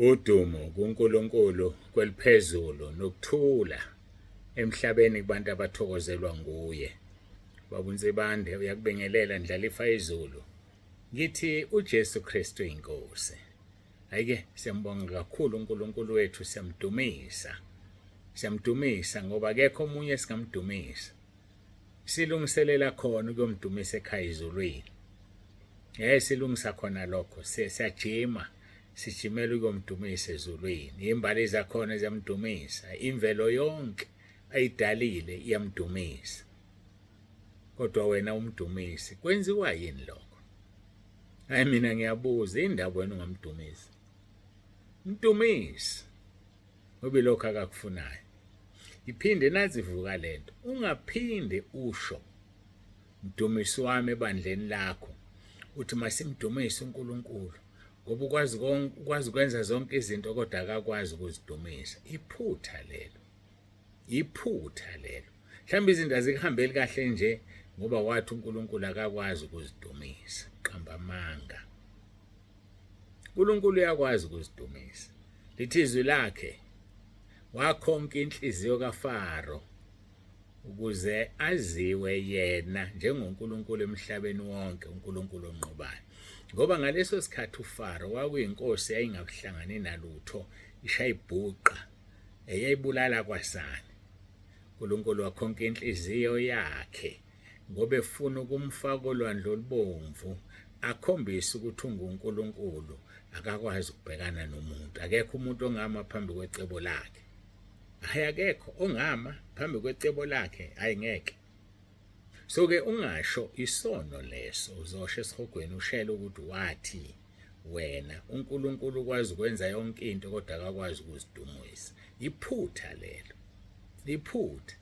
Udumo kuNkulunkulu kweliphezulu nokuthula emhlabeni kubantu abathokozelwa nguye. Baba uNsibande uyakubingelela ndlalifa izulu. Ngithi uJesu Kristu inkosi. Ayike siyambonga kakhulu uNkulunkulu wethu siyamdumisa. Siyamdumisa ngoba akekho omunye singamdumisa. silungiselela khona ukuyomdumisa ekhaya izulwini ngeke silungisa khona lokho siyajima sijimela ukuyomdumisa ezulwini imbali zakhona ziyamdumisa imvelo yonke ayidalile iyamdumisa kodwa wena umdumisi kwenziwa yini lokho hayi mina ngiyabuza indaba wena ungamdumisi mtumisi ngoba lokho akakufunayo iphinde nazivuka lento ungaphinde usho mdumisi wami ebandleni lakho uthi masimdumise uNkulunkulu ngoba ukwazi ukwazi ukwenza zonke izinto kodwa akakwazi ukuzidumisa iphutha lelo iphutha lelo mhlawumbe izinto azikuhambeli kahle nje ngoba wathi uNkulunkulu akakwazi ukuzidumisa qamba amanga uNkulunkulu uyakwazi ukuzidumisa lithi izwi lakhe wakhonka inhliziyo kaFaro ukuze aziwe yena njengoNkulunkulu emhlabeni wonke uNkulunkulu onqobayo ngoba ngaleso sikhathi uFaro wakuyinkosi yayingakuhlangani nalutho ishayibhuqa eyayibulala kwasani uNkulunkulu wakhonka inhliziyo yakhe ngoba efuna ukumfaka olwandle olubomvu akhombise ukuthi unguNkulunkulu akakwazi ukubhekana nomuntu akekho umuntu ongama phambi kwecebo lakhe hayi akekho ongama phambi kwecebo lakhe hayi ngeke so ke ungasho isono leso uzosho esihogweni ushele ukuthi wathi wena uNkulunkulu ukwazi ukwenza yonke into kodwa akakwazi ukuzidumisa iphutha lelo iphutha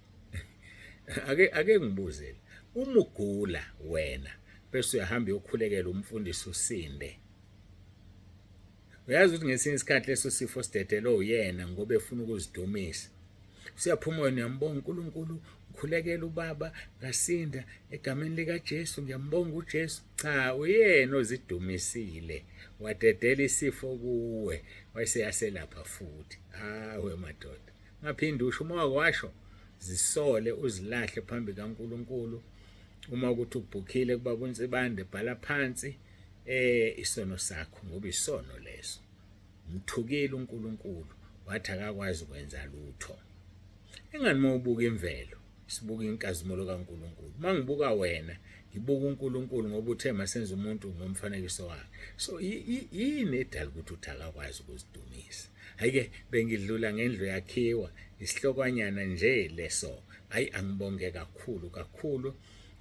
ake ake ngibuzele uma ugula wena bese uyahamba uyokhulekela umfundisi usinde uyazi ukuthi ngesinye isikhathi leso sifo sidedele uyena ngoba efuna ukuzidumisa Siyaphuma wena uyambonga uNkulunkulu ngikhulekela ubaba ngasinda egameni likaJesu ngiyambonga uJesu cha uyena ozidumisile wadedela isifo kuwe wayeseyaselapha futhi hawe madoda ngaphinde usho uma wakwasho zisole uzilahle phambi kaNkulunkulu uma ukuthi ubhukhile kuba kunsibande bhala phansi eh isono sakho ngoba isono leso Mthukile uNkulunkulu wathi akakwazi ukwenza lutho. Ingani uma ubuka imvelo, sibuka inkazimulo kaNkulunkulu. Uma ngibuka wena, ngibuka uNkulunkulu ngoba uthe masenze umuntu ngomfanekiso wakhe. So yini edala ukuthi uthi akakwazi ukuzidumisa? Hayike bengidlula ngendlu yakhiwa isihlokanyana nje leso. Hayi angibonge kakhulu kakhulu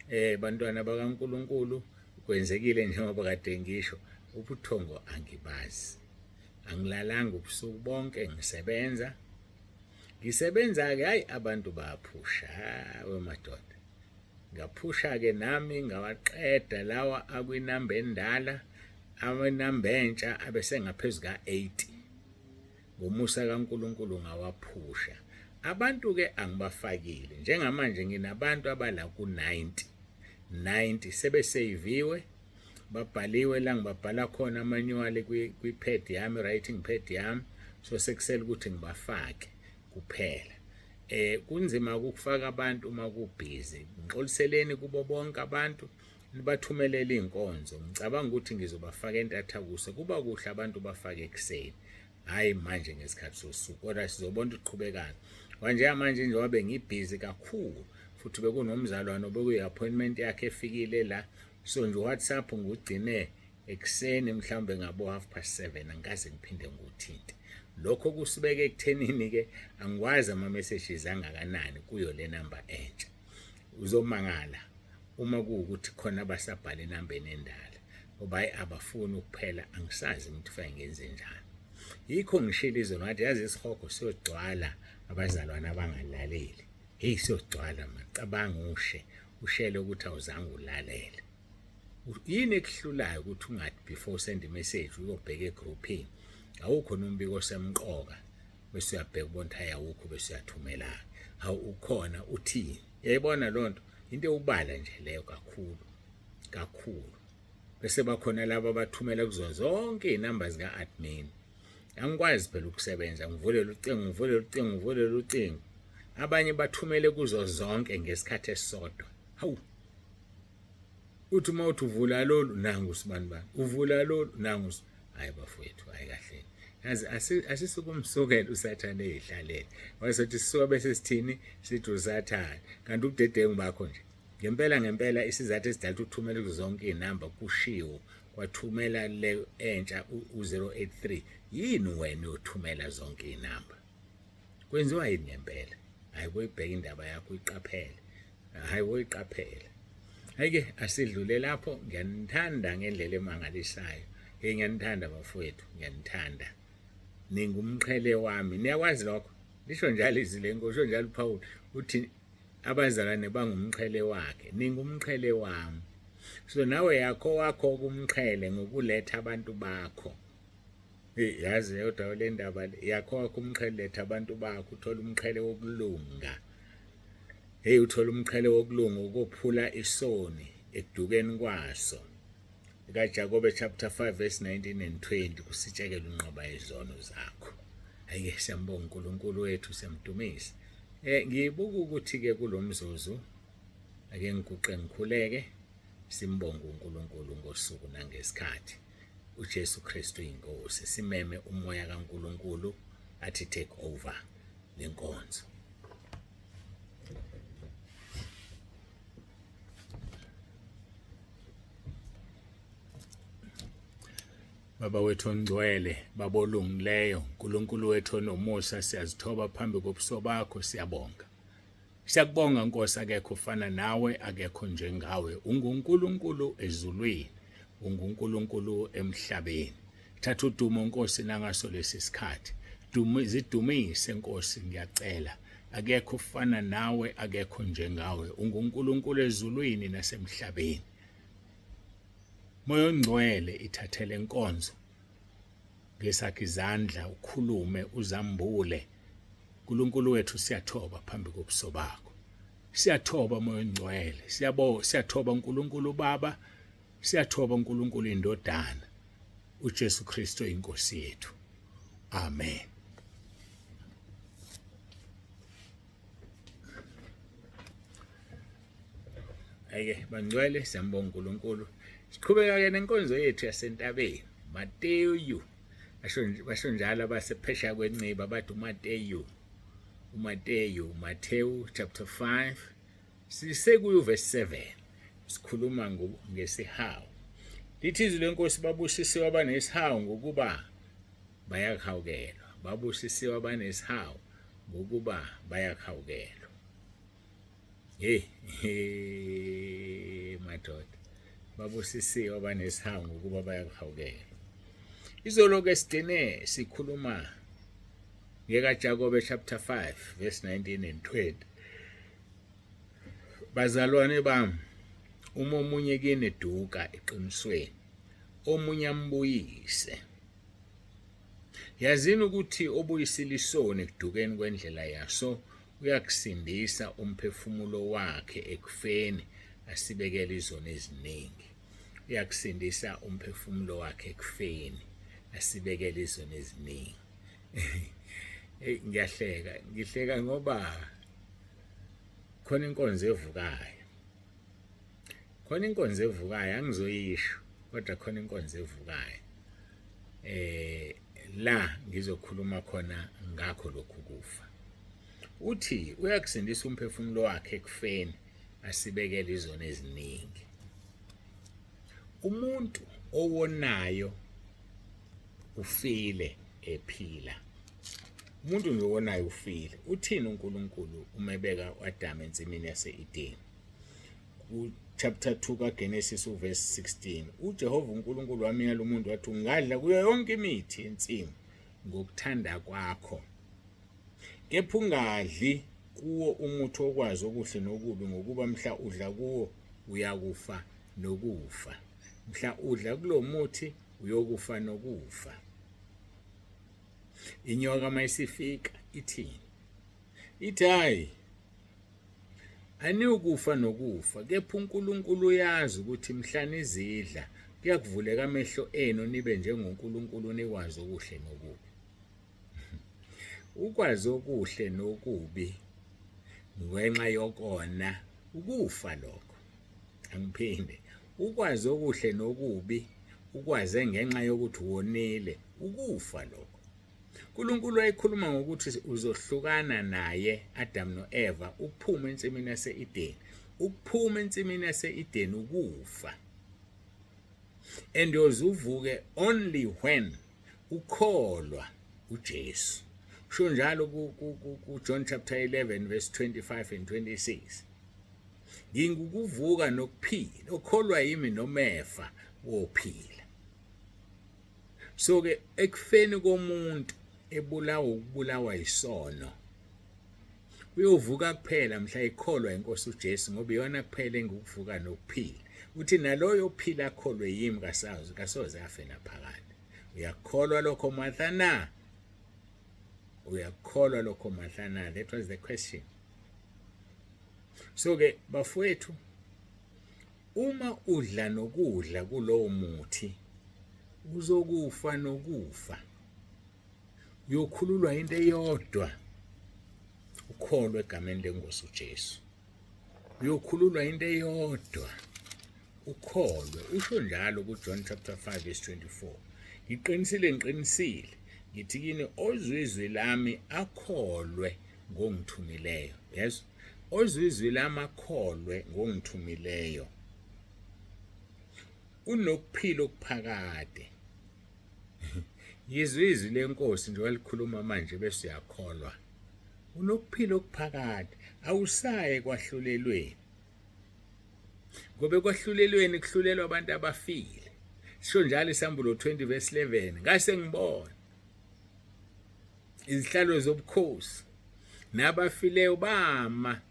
eh bantwana bakaNkulunkulu kwenzekile njengoba kade ngisho ubuthongo angibazi angilalanga ubusuku bonke ngisebenza ngisebenza-ke hhayi abantu baphusha wemadoda ngaphusha-ke nami ngawaqeda lawa akwinamba endala amanamba entsha abesengaphezu ka-80 ngomusa kaNkuluNkulu ngawaphusha abantu ke angibafakile njengamanje nginabantu abala ku-90 90 sebeseyiviwe babhaliwe la ngibabhala khona amanuwali kwi-pad yami writing pad yami so sekusele ukuthi ngibafake kuphela eh kunzima ukufaka abantu uma kubhizi ngixoliseleni kubo bonke abantu nibathumelele inkonzo ngicabanga ukuthi ngizobafaka entatha kuse kuba kuhle abantu bafake ekseni hayi manje ngesikhathi sosuku kodwa sizobona ukuthi qhubekana kwanje manje nje wabe ngibhizi kakhulu futhi bekunomzalwane obekuyi-appointment yakhe efikile la so nje uwhatsapp ngugcine ekuseni mhlawumbe ngabo half past seven angikaze ngiphinde ngiwuthinte lokho kusibeke ekuthenini-ke angikwazi ama-messages angakanani kuyo le namba entsha uzomangala uma kuwukuthi khona abasabhala enambeni endala ngoba hayi abafuni ukuphela angisazi ukuthi kufanele ngenze njani yikho ngishilo izolo ngathi yazi isihogo siyogcwala abazalwane abangalaleli heyi siyogcwala mani cabanga ushe ushele ukuthi awuzange ulalele yini ekuhlulayo ukuthi ungathi before send message uyobheka egroupini awukho nombiko osemqoka bese uyabheka ubona ukuthi hayi awukho bese uyathumela hawu ukhona uthini yayibona loo nto into ewubala nje leyo kakhulu kakhulu bese bakhona laba abathumela kuzona zonke iy'namba zika-admin angikwazi phela ukusebenza ngivulele ucingo ngivulele ucingo ngivulele ucingo abanye bathumele kuzo zonke ngesikhathi esisodwa hawu uthi uma uthi uvula lolu nangu sibani bani uvula lolu nangu hayi bafowethu hayi kahle yazi asisukumsukela usathane eyihlalele wayesothi sisuka bese sithini sithi usathane kanti ubudedengu bakho nje ngempela ngempela isizathu esidala ukuthumela kuzonke izinamba kushiwo wathumela le entsha u-083 yini wena uyothumela zonke iy'namba kwenziwa yini ngempela hhayi boyibheka indaba yakho uyiqaphele hhayi woyiqaphela hhayi-ke asidlule lapho ngiyanithanda ngendlela emangalisayo hey ngiyanithanda bafowethu ngiyanithanda ningumqhele wami niyakwazi lokho lisho njalo izwi lenkosi usho njalo uphawula uthi abazalwane bangumqhele wakhe ningumqhele wami so nawe yakho wakho kumqhele ngokuletha abantu bakho yazi yodwa le ndaba yakho wakho umqhele letha abantu bakho uthola umqhele wokulunga hey uthola umqhele wokulunga ukuphula isoni ekudukeni kwaso kaJakobe chapter 5 verse 19 and 20 kusitshekela unqoba izono zakho ayike siyambonga uNkulunkulu wethu siyamdumisa eh ngibuka ukuthi ke kulomzuzu ake ngiguqe ngikhuleke simbonga uNkulunkulu ngosuku nangesikhathi uJesu Kristu inkosi simeme umoya kaNkulunkulu athi take over lenkonzo Baba wethu ongcwele, Baba olungileyo, uNkulunkulu wethu onomusa, siyazithoba phambi kobuso bakho, siyabonga. Siyakubonga Nkosi, akekho ufana nawe, akekho njengawe. UnguNkulunkulu ezulwini, unguNkulunkulu emhlabeni. thatha udumo nkosi nangaso lesi sikhathi zidumise nkosi ngiyacela akekho ufana nawe akekho njengawe ungunkulunkulu ezulwini nasemhlabeni moya ongcwele ithathele inkonzo ngesakhe izandla ukhulume uzambule uNkulunkulu wethu siyathoba phambi kobuso bakho siyathoba moya ongcwele siyabo siyathoba uNkulunkulu baba Siyathoba uNkulunkulu indodana uJesu Kristu inkosi yethu. Amen. Ayike bangcwele siyambonga uNkulunkulu. Siqhubeka ke nenkonzo yethu yasentabeni. Mateyu basho njalo abasephesha kwenciba bathi uMateyu uMateyu Matthew chapter 5 Sisekuyo verse 7 sikhuluma ngesihawu. Lithi izwi lenkosi babusisiwe abanesihawu ngokuba bayakhawukelwa. Babusisiwe abanesihawu ngokuba bayakhawukelwa. Hey, hey madoda. Babusisiwe abanesihawu ngokuba bayakhawukelwa. Izolo ke sigcine sikhuluma ngeka Jakobe chapter 5 verse 19 and 20. Bazalwane bami, uma omunye kini eduka eqinisweni, omunye ambuyise. Yazini ukuthi obuyisile isoni ekudukeni kwendlela yaso uyakusindisa umphefumulo wakhe ekufeni asibekele izoni eziningi. Uyakusindisa umphefumulo wakhe ekufeni asibekele izoni eziningi. hey ngiyahleka ngihleka ngoba khona inkonzo evukayo khona inkonzo evukayo angizoyisho kodwa khona inkonzo evukayo eh la ngizokhuluma khona ngakho lokhu kufa uthi uyakusindisa umphefumulo wakhe ekufeni asibekele izona eziningi umuntu owonayo ufile ephila umuntu nje owonayo ufile uthini uNkulunkulu umebeka uAdam ensimini yaseEden chapter 2 kaGenesis uverse 16 uJehova uNkulunkulu wamyala umuntu wathi ungadla kuyo yonke imithi yensimu ngokuthanda kwakho Kepha ungadli kuwo umuthi okwazi okuhle nokubi ngokuba mhla udla kuwo uyakufa nokufa. Mhla udla kulo muthi uyokufa nokufa. Inyoka mayisifika ithini? Ithi hayi aniyukufa nokufa kepha uNkulunkulu uyazi ukuthi mhla nizidla kuyakuvuleka amehlo enu nibe njengoNkulunkulu nikwazi okuhle nokubi. Ukwazi okuhle nokubi ngenxa yokona ukufa lokho. Angiphinde. Ukwazi okuhle nokubi ukwaze ngenxa yokuthi wonile ukufa lokho. uNkulunkulu wayekhuluma ngokuthi uzohlukana naye Adam noEva ukuphuma ensimini yaseEden ukuphuma ensimini yaseEden ukufa and uyozuvuke only when Ukholwa uJesu. Kusho njalo kuJohn chapter 11 verse 25 and 26. Ngingukuvuka nokuphila, okholwa yimi nomefa wophila. So ke ekufeni komuntu ebulawa ukubulawa isono Uyovuka kuphela mhla ikholwa inkosi uJesu ngoba iyona kuphela engikuvuka nokuphila. Uthi naloyo ophila akholwe yimi kasazi kasoze afe naphakade. Uyakholwa lokho Martha na? Uyakholwa lokho Martha na? That was the question. So ke bafowethu uma udla nokudla kulowo muthi uzokufa nokufa. uyokhululwa into eyodwa ukholwe egameni lengosi uJesu uyokhululwa into eyodwa ukholwe usho njalo kuJohn chapter 5 verse 24 ngiqinisile ngiqinisile ngithi kini ozwizwi lami akholwe ngongithumileyo yes ozwizwi lami akholwe ngongithumileyo unokuphila okuphakade Yizwe izwi lenkosi nje walikhuluma manje bese uyakholwa. Unokuphila okuphakade, awusaye kwahlulelweni. Ngoba ekwahlulelweni kuhlulelwa abantu abafile. Sisho njalo isambulo 20 verse 11, ngase ngibona izihlalo zobukhosi nabafileyo bama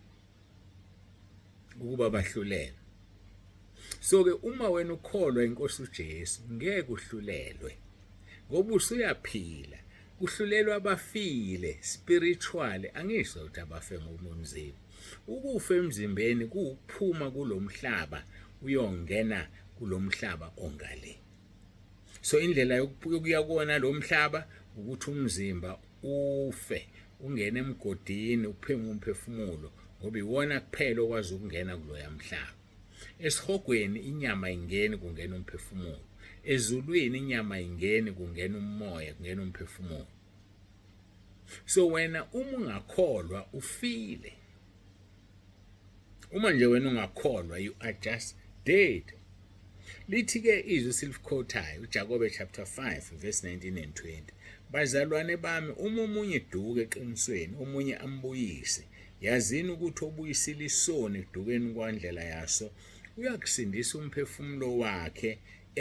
ukuba bahlulele so ke uma wena ukholwa inkosi uJesu ngeke uhlulelwe ngoba usuyaphila kuhlulelwa abafile spiritually angisho ukuthi abafe ngokomzimba ukufa emzimbeni kuphuma kulomhlaba uyongena kulomhlaba ongale so indlela yokuya kona lomhlaba ukuthi umzimba ufe ungene emgodini upheme umphefumulo ngoba iwona kuphela okwazi ukungena kuloya mhlaba esihogweni inyama ingeni kungena umphefumulo ezulwini inyama ingeni kungena umoya kungena umphefumulo so wena uma ungakholwa ufile uma nje wena ungakholwa you are just dead lithi-ke izwi esilikhothayo ujakobe chapter 5 verse 19 and 20 bazalwane bami uma omunye duke eqinisweni omunye ambuyise yazini ukuthi obuyisile isoni ekudukeni kwandlela yaso uyakusindisa umphefumulo wakhe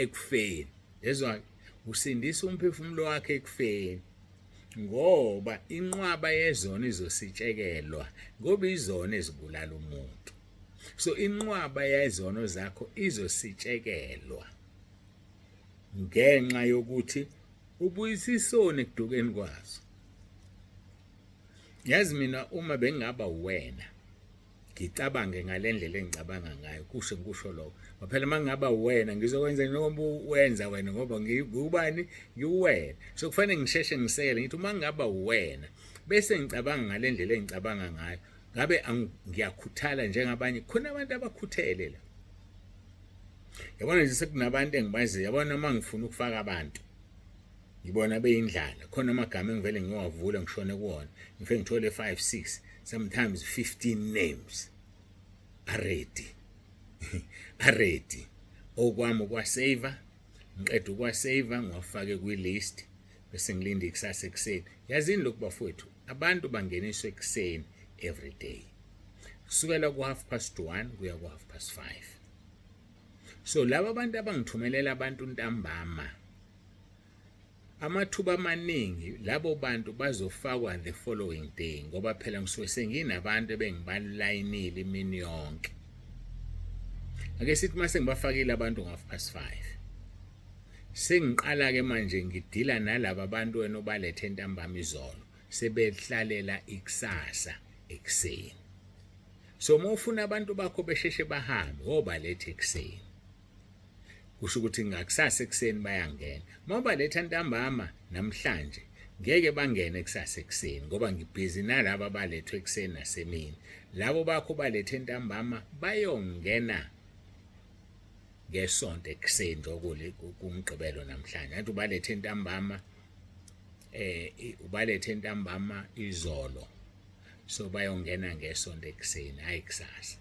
ekufeni lezwa usindisa umphefumulo wakhe ekufeni ngoba inqwaba yezona izositshekelwa ngoba izona ezibulala umuntu so inqwaba yezono zakho izositshekelwa ngenxa yokuthi ubuyisa isoni ekudukeni kwazo yazi mina uma bengingaba wena ngicabange ngale ndlela engicabanga ngayo kusho ngikusho lokho ngoba phela uma ngingaba wena ngizokwenza noma wenza wena ngoba ngiwubani ngiwuwena so kufanele ngisheshe ngisekele ngithi uma ngingaba wena bese ngicabanga ngale ndlela engicabanga ngayo ngabe ngiyakhuthala njengabanye khona abantu abakhuthele la yabona nje sekunabantu engibaziyo yabona uma ngifuna ukufaka abantu ngibona beyindlala khona amagama engivele ngiwavula ngishone kuwona ngifike ngithole 5 6 sometimes 15 names aredi aredi okwami ukwasave ngiqeda ukwasave ngiwafake kwi-list bese ngilinde ikusasa ekuseni yazini lokhu bafowethu abantu bangeniswa ekuseni every day kusukela ku-half past one kuya ku-half past five so laba abantu abangithumelela abantu ntambama amathuba amaningi labo bantu bazofakwa the following day ngoba phela ngisuke senginabantu ebengibalayinile imini yonke ake sithi mase ngibafakile abantu ngo-half past five sengiqala-ke manje ngidila nalaba bantu wena obalethe entambama izolo sebehlalela ikusasa ekuseni so uma ufuna abantu bakho besheshe bahambe wobaletha ekuseni kusho ukuthi ngakusasa ekuseni bayangena uma ubaletha ntambama namhlanje ngeke bangene kusasa ekuseni ngoba ngibhizi nalaba balethwe ekuseni nasemini labo bakho balethe ntambama bayongena ngesonto ekuseni njokule kumgqibelo namhlanje athi ubalethe ntambama eh ubalethe ntambama izolo so bayongena ngesonto ekuseni hayi kusasa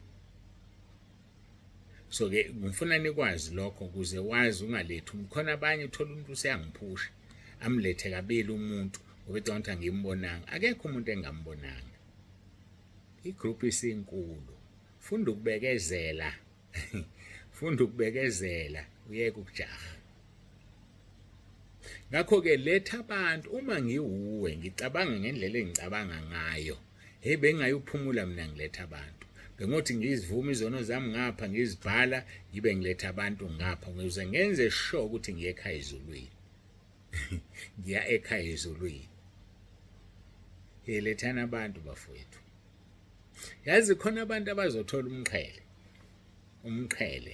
so ke ngifuna nikwazi lokho ukuze wazi ungalethi khona abanye uthola umuntu useyangiphusha amlethe kabili umuntu obecanga ukuthi angimbonanga akekho umuntu engambonanga igroup isinkulu funda ukubekezela funda ukubekezela uyeke ukujaha ngakho-ke letha abantu uma ngiwuwe ngicabanga ngendlela engicabanga ngayo heyi bengingayophumula mina ngiletha abantu bengothi ngizivume izono zami ngapha ngizibhala ngibe ngiletha abantu ngapha ngize ngenze sho ukuthi ngiye ekhaya ezulwini ngiya ekhaya ezulwini yelethani abantu bafowethu yazi khona abantu abazothola umqhele umqhele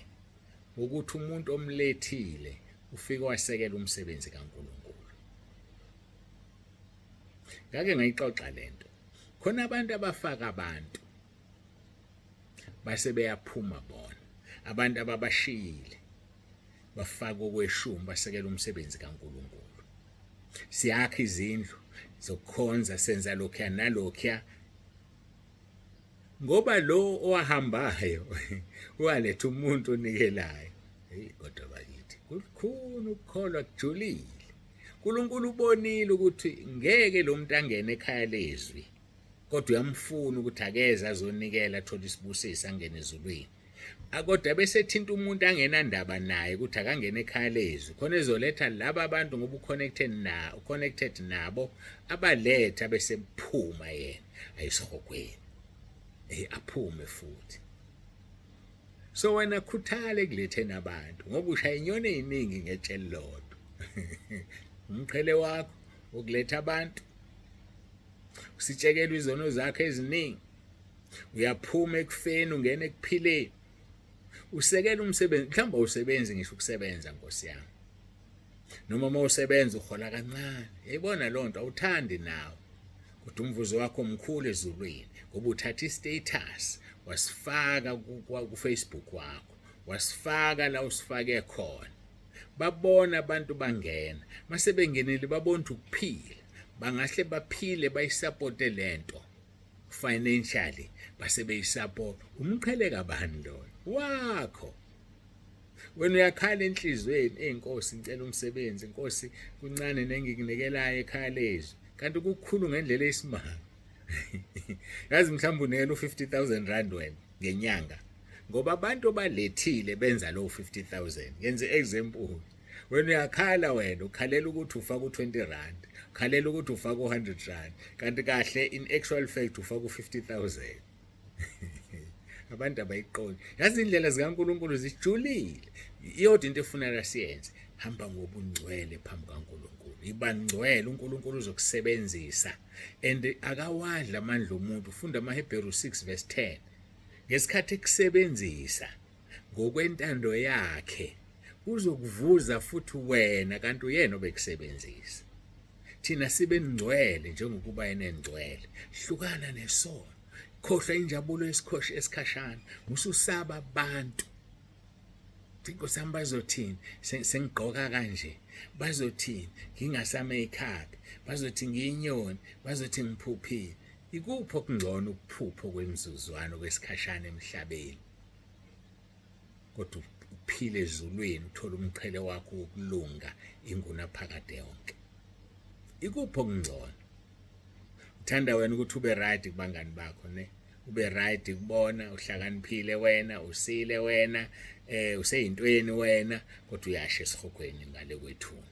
ukuthi umuntu omlethile ufike wasekela umsebenzi kaNkulunkulu ngake ngayixoxa lento khona abantu abafaka abantu base beyaphuma bona abantu ababashiyile bafake okweshumi basekela umsebenzi kaNkulunkulu siyakha izindlu zokukhonza senza lokhuya nalokhuya ngoba lo owahambayo waletha umuntu onikelayo hey kodwa bakithi kukhulu ukukholwa kujulile uNkulunkulu ubonile ukuthi ngeke lo muntu angene ekhaya lezwi kodwa uyamfuna ukuthi akeze azonikela athole isibusiso angene ezulwini akodwa bese thinta umuntu angenandaba naye ukuthi akangene ekhaya lezwi khona ezoletha laba abantu ngoba uconnected na uconnected nabo abaletha bese phuma yena ayisihogweni hey aphume futhi so wena khuthale kuletheni abantu ngoba ushaya inyoni eziningi ngetsheli lodwa umqhele wakho ukuletha abantu usitshekelwa izono zakhe eziningi uyaphuma ekufeni ungena ekuphileni usekela umsebenzi mhlawumbe awusebenzi ngisho ukusebenza nkosi yami noma uma usebenza uhola kancane yayibona loo nto awuthandi nawe kodwa umvuzo wakho mkhulu ezulwini ngoba uthatha i-status wasifaka kufacebook wakho wasifaka la usifake khona babona abantu bangena masebengenile babona ukuthi ukuphila bangahle baphile bayisapote lento financially base beyisapota umqhele kabani lona wakho wena uyakhala enhlizweni eyinkosi ngicela umsebenzi inkosi kuncane nengikunikelayo ekhaya lezwi kanti kukhulu ngendlela eyisimanga yazi mhlawumbe unikela u-50000 rand wena ngenyanga ngoba abantu obalethile benza lowo 50000 ngenze example wena uyakhala wena ukhalela ukuthi ufaka u-20 rand ukhalela ukuthi ufaka u-100 rand kanti kahle in actual fact ufaka u-50 thousand abantu abayiqondi yazi indlela zikaNkuluNkulu zijulile iyodwa into efuneka siyenze hamba ngobungcwele phambi kaNkuluNkulu ibangcwele uNkuluNkulu uzokusebenzisa and akawadla amandla omuntu funda amaHebheru 6 verse 10 ngesikhathi ekusebenzisa ngokwentando yakhe uzokuvuza futhi wena kanti uyena obekusebenzisa thina sibe ngcwele njengokuba yena engcwele hlukana nesono khohlwa injabulo yesikhoshi esikhashana mususaba abantu inkosi yami bazothini sengigqoka kanje bazothini ngingasame ikhabi bazothi ngiyinyoni bazothi ngiphuphile ikuphi okungcono ukuphupha okwemizuzwana okwesikhashana emhlabeni kodwa uphile ezulwini uthole umqhele wakho wokulunga ingunaphakade yonke ikuphi okungcono uthanda wena ukuthi ube right kubangani bakho ne ube right kubona uhlakaniphile wena usile wena eh useyintweni wena kodwa uyasha esihogweni ngale kwethuna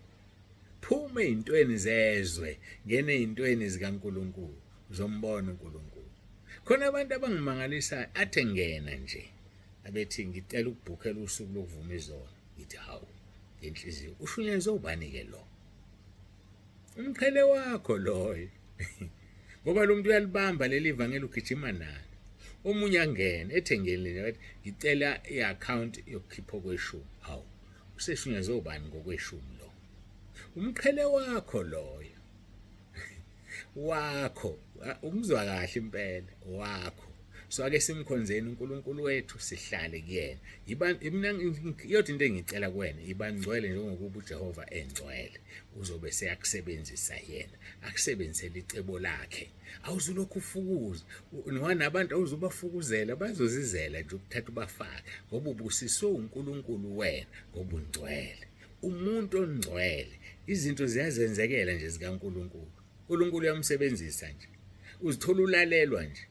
phuma ezintweni zezwe ngene ezintweni zikaNkuluNkulu uzombona uNkuluNkulu khona abantu abangimangalisayo athe ngena nje abethi ngicela ukubhukhela usuku lokuvuma izona ngithi hawu ngenhliziyo ushunyezwe ubani ke lo umqhele wakho loyo ngoba lo muntu uyalibamba leli vangeli ugijima nalo omunye angene ethengeni lena bathi ngicela i-account yokukhipha okweshumi hawu Usehlunyezwe ubani ngokweshumi lo? Umqhele wakho loyo. Wakho, umzwa kahle impela wakho. so ake simkhonzeni uNkulunkulu wethu sihlale kuyena mina iyodwa into engicela kuwena ibangcwele njengokuba uJehova engcwele uzobe seyakusebenzisa yena akusebenzisele icebo lakhe awuzulokhu ufukuza nwana abantu awuzubafukuzela bazozizela nje ukuthatha ubafake ngoba ubusiswe uNkulunkulu wena ngoba ungcwele umuntu ongcwele izinto ziyazenzekela nje zikaNkulunkulu uNkulunkulu uyamsebenzisa nje uzithola ulalelwa nje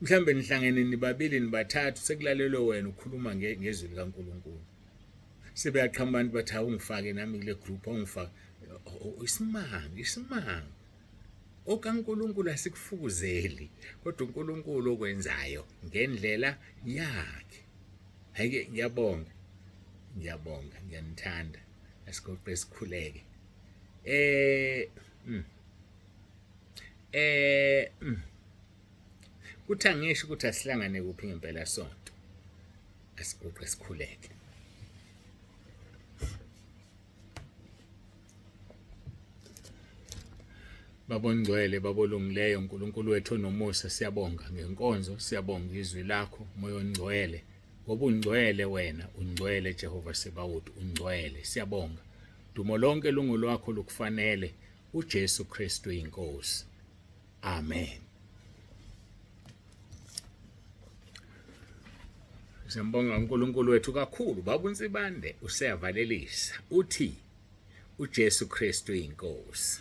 mhlambe nihlangene nibabili nibathathu sekulalelwe wena ukhuluma ngezwi likaNkulunkulu sebeyaqhamba abantu bathi awungifake nami kule group awungifake isimanga isimanga OkaNkulunkulu asikufukuzeli kodwa uNkulunkulu okwenzayo ngendlela yakhe. Hayike ngiyabonga. Ngiyabonga, ngiyanithanda. Asigoqe sikhuleke. Eh mm. eh mm. kuthi angisho ukuthi asihlangane kuphi ngempela sonto. Asigoqe sikhuleke. babongcwele babolungileyo uNkulunkulu wethu onomusa siyabonga ngenkonzo siyabonga izwi lakho moya ongcwele ngoba ungcwele wena ungcwele Jehova Sebawuthi ungcwele siyabonga dumo lonke lungolwakho lukufanele uJesu Kristu inkosi Amen. Siyambonga uNkulunkulu wethu kakhulu baba uNsibande useyavalelisa uthi uJesu Kristu inkosi.